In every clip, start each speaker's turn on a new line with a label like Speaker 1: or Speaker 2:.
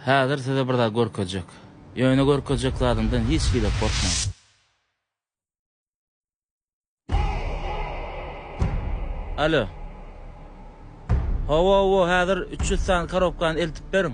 Speaker 1: Häzir size bir zat görkezjek. Ýöne görkezjek zadymdan hiç hili gorkmaň. Alo. Hawa, hawa, häzir üç ýüz sany korobkany eltip beriň.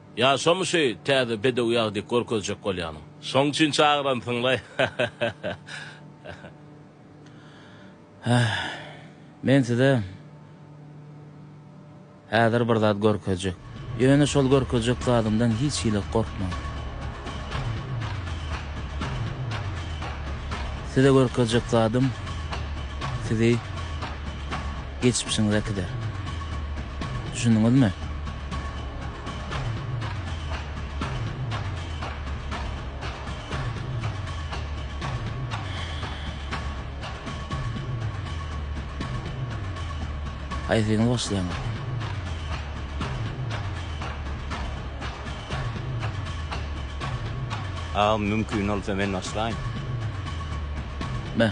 Speaker 1: Ýa şomy şu täze bedew ýagy diýip görkezjek bolýanyň. Şoň üçin çagyransyňlaý. Heh. Men size häzir bir zat görkezjek. Ýöne şol görkezjek zadymdan hiç hili gorkmaň. Size görkezjek zadym sizi. Geçmişiňiz äkider. Düşündiňizmi? Haýsyňyz başlaýaňyz? Agam mümkin bolsa men başlaýyn. Be.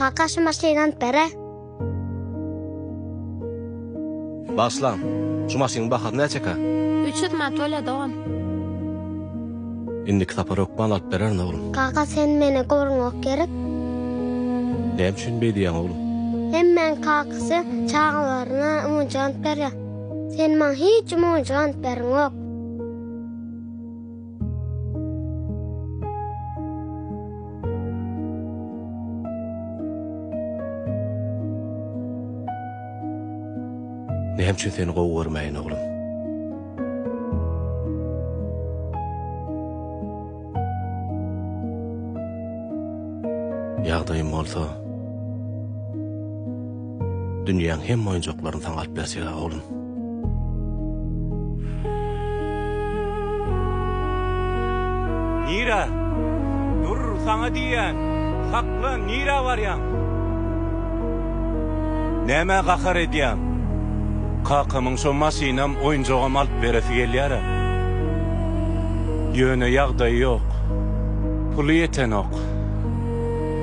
Speaker 1: Kaka şu maşyny alyp bere. Bagyşlaň. Şu maşynyň bahasy näçeka? Üç ýüz manat bolýa dogan. Indiki sapar hökman alyp bererin oglum. Kaka sen meni gorňok gerek. Näme üçin beý diýýäň oglum? Hemmäň kakasy çagalaryna monja alyp berýär. Sen maňa hiç monja alyp bereňok. Näme üçin seni gowy görmäýin, oglum? Ýagdaýym bolsa. Dünýäň hemme oýunjaklaryny saňa alyp berjek-ä, oglum. Nirä? Dur, saňa diýýän! Saklan, nirä barýaň? Nämä gahar edýäň? Kakamyň şo maşynam, oýunjagam alyp beresi gelýär-ä. Ýöne ýagdaýy ýok. Puly ýetenok.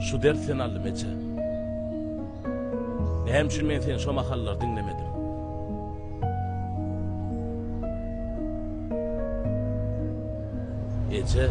Speaker 1: Şu dert sen aldy meçe. Näme üçin men seni şo mahallar diňlemedim. Eje.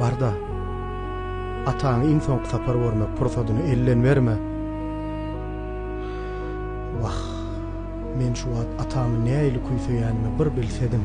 Speaker 1: Bar-da, ataňy iň soňky sapar görmek pursadyny elden berme. Wah, men şu wagt atamy nähili küýseýänimi bir bilsediň!